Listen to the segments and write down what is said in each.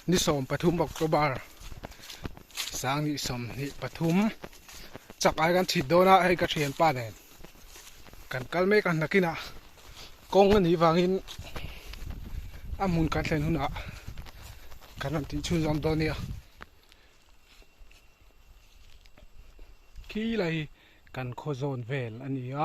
ni sawm pathum October sang ni sawm ni pathum chak ai kan chhit dona hei ka thian pa nen kan kal mek a nakina kong a nih vangin a hmun kan thlen huna kan ram tih chhunzawm dawn nia khi lai kan khaw zawn vel a nia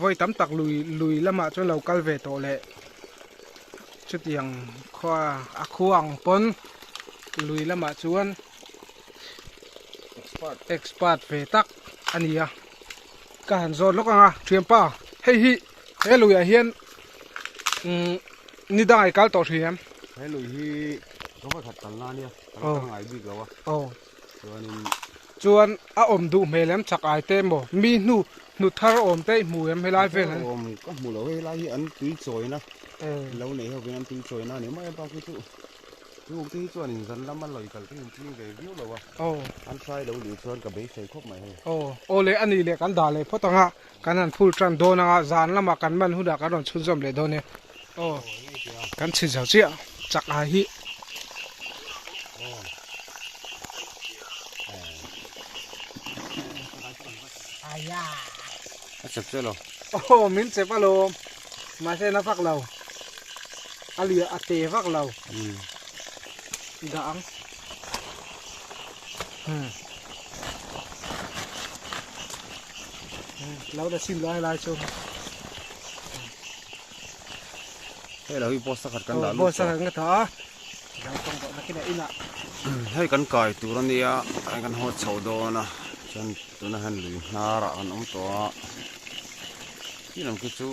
Vawi tam tak lui lui lamah chuan lo kal ve tawh leh. Chutiang khaw a khuang pawn lui lamah chuan expert ve tak a ni a. Ka han zawt lawk ang a, Thianpa, hei hi he luiah hian ni dang ai kal tawh hrih em? He lui hi ka hmakhat kalna a nia, ka lo kal ngai bik lo a. Aw. Chuanin. Chuan a awm duh hmel em chak ai te emaw mi hnu hnu thar awm te i hmu em helai vel an awm ka hmu lo helai hi an tui chawina lo nei ho hian tui chawina ani mai a bak hi chu chu te hi chuan in zan lama lawi kal thin tling ve viau lo a aw an sai lo leh chuan ka beisei khawp mai hei aw aw leh ani leh kan dah leh phawt ang a Kan han phul tan dawn anga zan lamah kan man hunah kan rawn chhunzawm leh dawn e. Aw, kan chhin zo chiah. Chak ai hi. A chep chiah lo. Aw, min chep alawm. Mahse na fak lo. A liah a te vak lo. Dah ang. lo la sim lai lai chu hei lo hi boss khat kan dah lu boss khat ka tha a lo tawng tawh na kina ina hei kan kai tur ania hei kan hawt chho dawn a chuan tuna han lui hnar ah kan awm tawh a Tin ang khi chu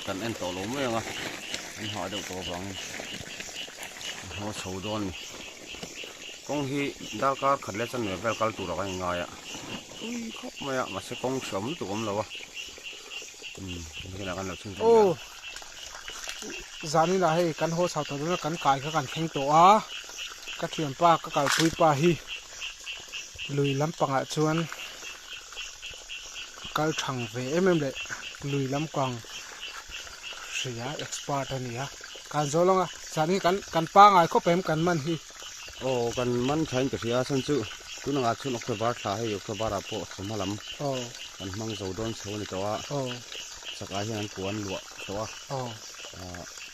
kan en tawh lo mai ang a, an hah deuh tawh avangin ka hmu a chho dawn a ni. Kawng hi darkar khat leh chanve vel kal turah kan inngai a, a tui khawp mai a, mahse kawng hre awm lutuk awm lo a, umm hemi khanah kan lo chhung tum leh a. Zaninah hei kan haw chho tawh dawn a, kan kai kha kan thleng tawh a, ka thianpa ka kalpuipa hi lui lampangah chuan. kal thang ve em em leh lui lam kang hria expert a ni a kan zawh lawng a chhan hi kan kan pangai khawp em kan man hi aw kan man tha in ka hria a chhan chu tunang ah chuan october thla hei october ah pawh thawmhnaw lam aw kan hmang zo dawn chho a ni tawh a aw chak ah hian an puan luah tawh a aw ah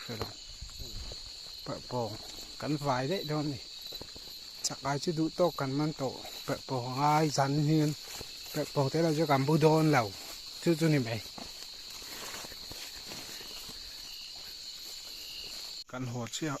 hrelo perh pawng kan vai daih dawn a ni chakai chu duh tawk kan man tawh perh pawng angai zan hian perh pawng te erawh chu kan bu dawn lo chu chu ni mai kan haw chiah.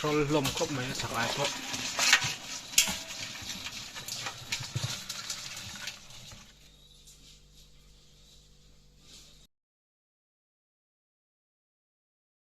Hrawl hlawm khawp mai a sak ai pawh.